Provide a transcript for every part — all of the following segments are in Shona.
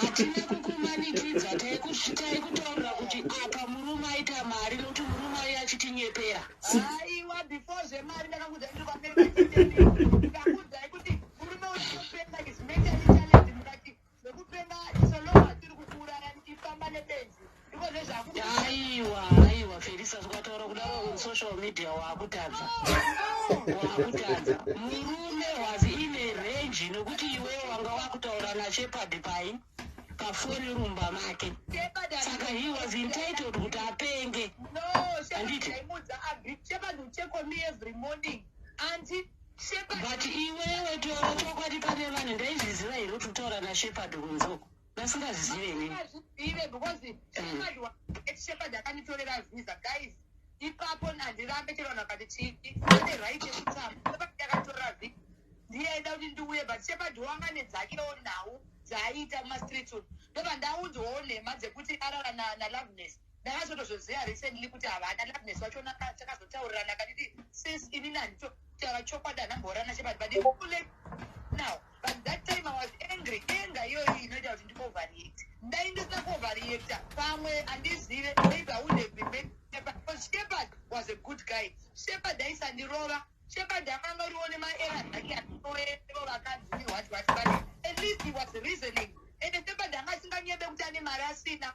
hatina kukumanikidza taikusvikai kutaurira kuti apa murume aita mari nokuti murume aye achitinyepera aiwa before zvemari ndakakuza ndiri Zvekupenga iso lova atiri kukuuraya ndifamba nebenzi ndiko zvezvaku. Aiwa aiwa Felisa zvakataura kudaro on social media wakutadza. Wakutadza. Murume was in a range nokuti iwe wanga wakutaura naShepard pai pafoni rumba make. Saka he was entitled kuti apenge. No, Shepard aimudza Agri. Shepard will check on me every morning. Anti But iwewe taura chokwadi pane vanhu ndaizviziva here kuti utaura nashepard kunzoko vasingazizive ini Hazvizive because Shepherd wa- eti Shepherd akanditorera visa guys ipapo handirambe chero vanhu vakati chii ane right yekutamba Shepherd akatora visa ndiye aida kuti ndiuye but Shepherd wanga nedzakewo nhau dzaaita mumastreet umu ndobva ndaunzwawo nhema dzekuti arara na- naloveness Ndakazotozozia recently kuti havana Loveness wacho naka takazotaurirana akanditi since ini nandito taura chokwadi anamborana chepati but it's too late now. But that time I was angry. Anger iyoyi inoita kuti ndikoverreact. Dai ndisina kuoverreacta pamwe andizive maybe I would have been made Shepherd. Because Shepherd was a good guy. Shepherd aisandirova. Shepherd akanga uriwo nemaera ake anoero vakanzi what what but at least he was reasoning. Ende Shepherd anga asinganyebe kuti ane mari asina.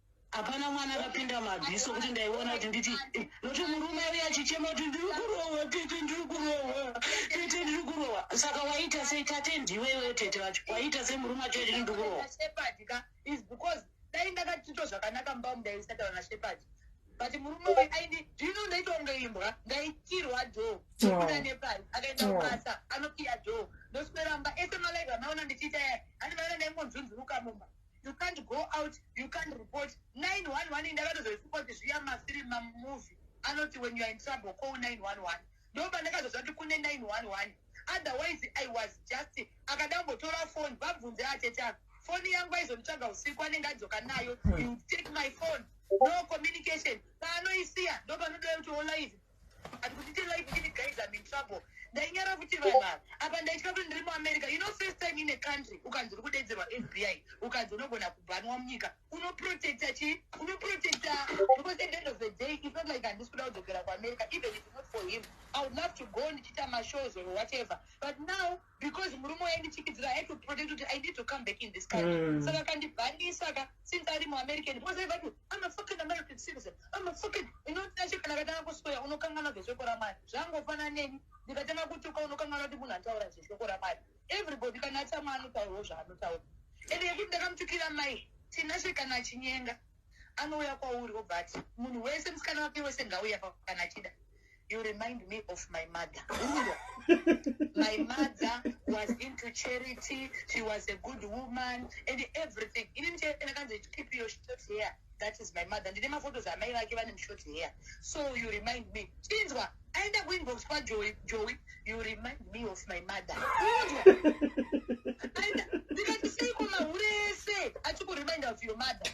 hapana mwana akapinda mabvi sokuti ndaiona kuti nditi nokuti murume uye achichema kuti ndiri kurohwa tete ndiri kurohwa tete ndiri kurohwa saka waita sei tate ndiwewe tete vacho waita sei murume acho achiti ndiri kurohwa dai ndakatito zvakanaka mumba mu ndaisataura nashepard but murume uyu aindi ndino ndaita kunge imbwa ndaitirwa dho kuda nepari akaenda kubasa anokiya dho ndosweramba ese malaiva maona ndichiita yai handivaona ndaingonzunzuruka mumba you can't go out you can't report 911 ndakatozozvipoti zviya mafiri mamuvi anoti when youare in trouble call 911 ndoba ndakazozva kuti kune 911 otherwise i was just akada kumbotora foni vabvunze ateta foni yangu aizonditsvaga usiku anenge adzoka nayo you take my phone no communication paanoisiya ndopanodai kuti olive Ati kuti tell life kuti guys I'm in trouble. Ndainyara kuti vanhu ava. Apa ndaitya kuti ndiri muAmerica. You know first time in a country ukanzi uri kudedzerwa FBI. Ukanzi unogona kubhanwa munyika. Unoprotecta chi? Unoprotecta because at the end of the day it's not like handisi kuda kudzokera kuAmerica even if it's not for him. I would love to go ndichiita mashows or whatever. But now because murume uya ndichikidzira i had to protect kuti i need to come back in this country mm. saka kandibhandisa ka since ari muamerican because i vati i'm a fucking american citizen i'm a fucking inotinashe kana katanga kusoya unokangana zveshoko ramari zvangofana neni ndikatanga kutuka unokangana kuti munhu ataura zveshoko ramari everybody kana atama anotaurawo zvaanotaura ende yekuti ndakamutukira mai tinashe kana achinyenga anouya kwauri obva ati munhu wese musikana wake wese ngauya kana achida you remind me of my mother my mother was into charity she was a good woman and everything inini chaendakanzi keep your short hair that is my mother ndine maphotos amai vake vane mushort hair so you remind me chinzwa aenda kuinbox kwajowi jowi you remind me of my mother ndikati seiko mahure ese achikureminda of your mother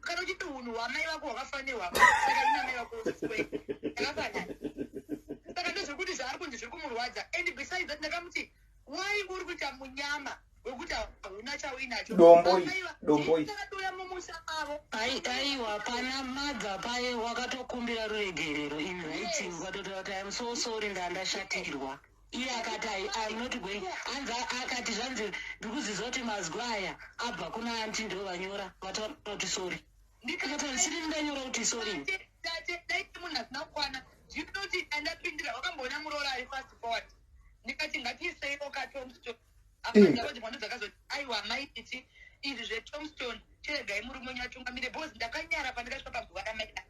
kana uchiti unhu hwamai vako hwakafanirwa saka inamai vako akafanana saka ndozvekuti zvaari kunzi zviri kumurwadza and besides that ndakamuti why uri kuita munyama wekuti hauna chauinacho domboiakatouya mumusha mavo aiwa pana madza paye wakatokumbira ruregerero in writing ukatotaura kuti iam so sorry ndandashatirwa iye akati i am not going hanzi akati zvanzi ndikuziza kuti mazwi aya abva kuna anti ndo vanyora vataura kuti sori ndikati chiri ndanyora kuti sori daiti munhu asina kukwana zvinoti andapindira wakamboona muroora ari fast forward ndikati ngatiisei okatomstori aiwa amai titi izvi zvetomstone tiregai murume wenyu atungamire bcause ndakanyara pandakasvika paguva ramaida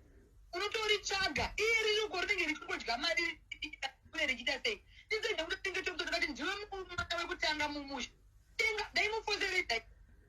unotoritsvaga iye ririko rinenge richingodya mari uye richiita sei ndizenda kuti tinge tomstone kati ndiwe mwana wekutanga mumusha tenga dai mufoseredai